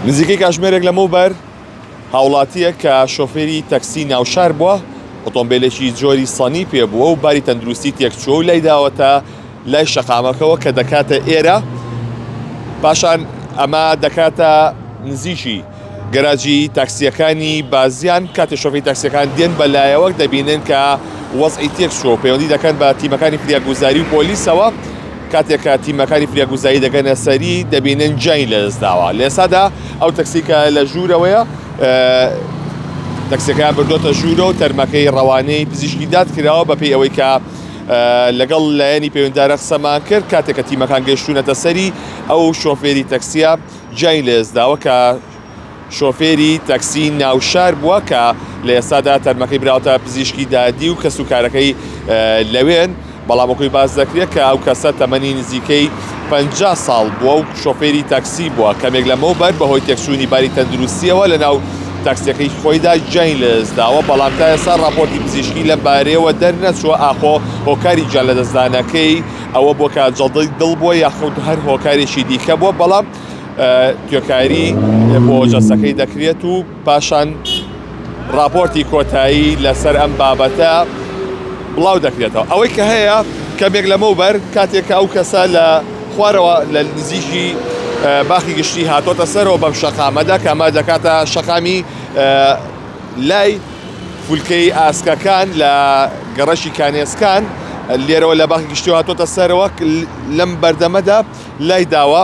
نزیکەی کاژمێرێک لەمەوبەر هاوڵاتیەک کە شۆفێری تەکسی ناوشار بووە ئۆتۆمبیلێکی جۆری سانی پێ بووە و باری تەندروستی تێکچووە و لای داوەتە لای شەقامەکەەوە کە دەکاتە ئێرە پاشان ئەمە دەکاتە نزیکی گەراجی تاکسیەکانی بازیان کاتی شۆفی تاکسیەکان دێن بە لایەوەک دەبینن کە وەزعی تێکچوە و پەیوەندی دەکەن بە تیمەکانی فریاگوزاری و پۆلیسەوە کاتێک کە تیمەکانی فریاگوزایی دەگەنە سەری دەبینن گیانی لەدەستداوە، لە ئێستادا ئەو تەکسی کە لە ژوورەوەیە تەکسیەکەیان بردۆتە ژوورە و تەرمەکەی ڕەوانەی پزیشکی داد کراوە بەپێی ئەوەی کە لەگەڵ لایەنی پەیوەندارە قسەمان کرد کاتێکە تیمەکان گەشتونەتە سەری ئەو شۆفێری تەکسیە گیانی لەدەستداوە کە شۆفێری تەکسی ناوشار بووە کە لە ئێستادا تەرمەکەی براوەتە پزیشکی دادی و کەس و کارەکەی لەوێن بەڵام وەکوی باس دەکرێت کە ئەو کەسە تەمەنی نزیکەی 50 ساڵ بووە و شۆفێری تەکسی بووە کەمێک لەمەو بەر بەهۆی تێکچوونی باری تەندروستیەوە لە ناو تاکسیەکەی خۆیدا گیانی لەدەستداوە بەڵام تا ئێستا راپۆرتی پزیشکی لەم بارەیەوە دەرنەچووە ئاخۆ هۆکاری گیان لەدەستدانەکەی ئەوە بۆ کە جەڵدەی دڵ بووە یاخود هەر هۆکارێکی دیکە بووە بەڵام توێکاری بۆ جەستەکەی دەکرێت و پاشان راپۆرتی کۆتایی لەسەر ئەم بابەتە بڵاو دەکرێتەوە ئەوەی کە هەیە کەمێک لەمەوبەر کاتێکە ئەو کەسە لە خوارەوە لە نزیکی باخی گشتی هاتۆتە سەرەوە بەم شەقامەدا کەمە دەکاتە شەقامی لای فولکەی ئاسکەکان لە گەڕەشی کانێسکان لێرەوە لە باخی گشتی هاتۆتە سەرەوە لەم بەردەمەدا لای داوە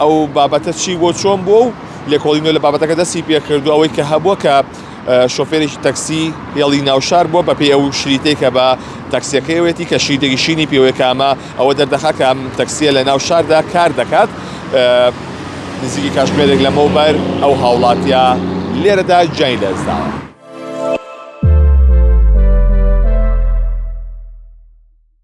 ئەو بابەتە چی بووە چۆن بووە و لێکۆڵی نوێ لە بابەتەکە دەستی پێکردو ئەوەی کە هەبووە کە شۆفێرێکی تەکسی هێڵی ناوشار بووە بەپێی ئەو شریتەی کە بە تەکسیەکەیەتی کە شیدێکی شینی پێوەکامە ئەوە دەردەخا کە ئەم تەکسیە لە ناو شاردا کار دەکات نزیکی کاشمێرێک لەمەوبەر ئەو هاوڵاتیا لێرەدا جای لەزداوە.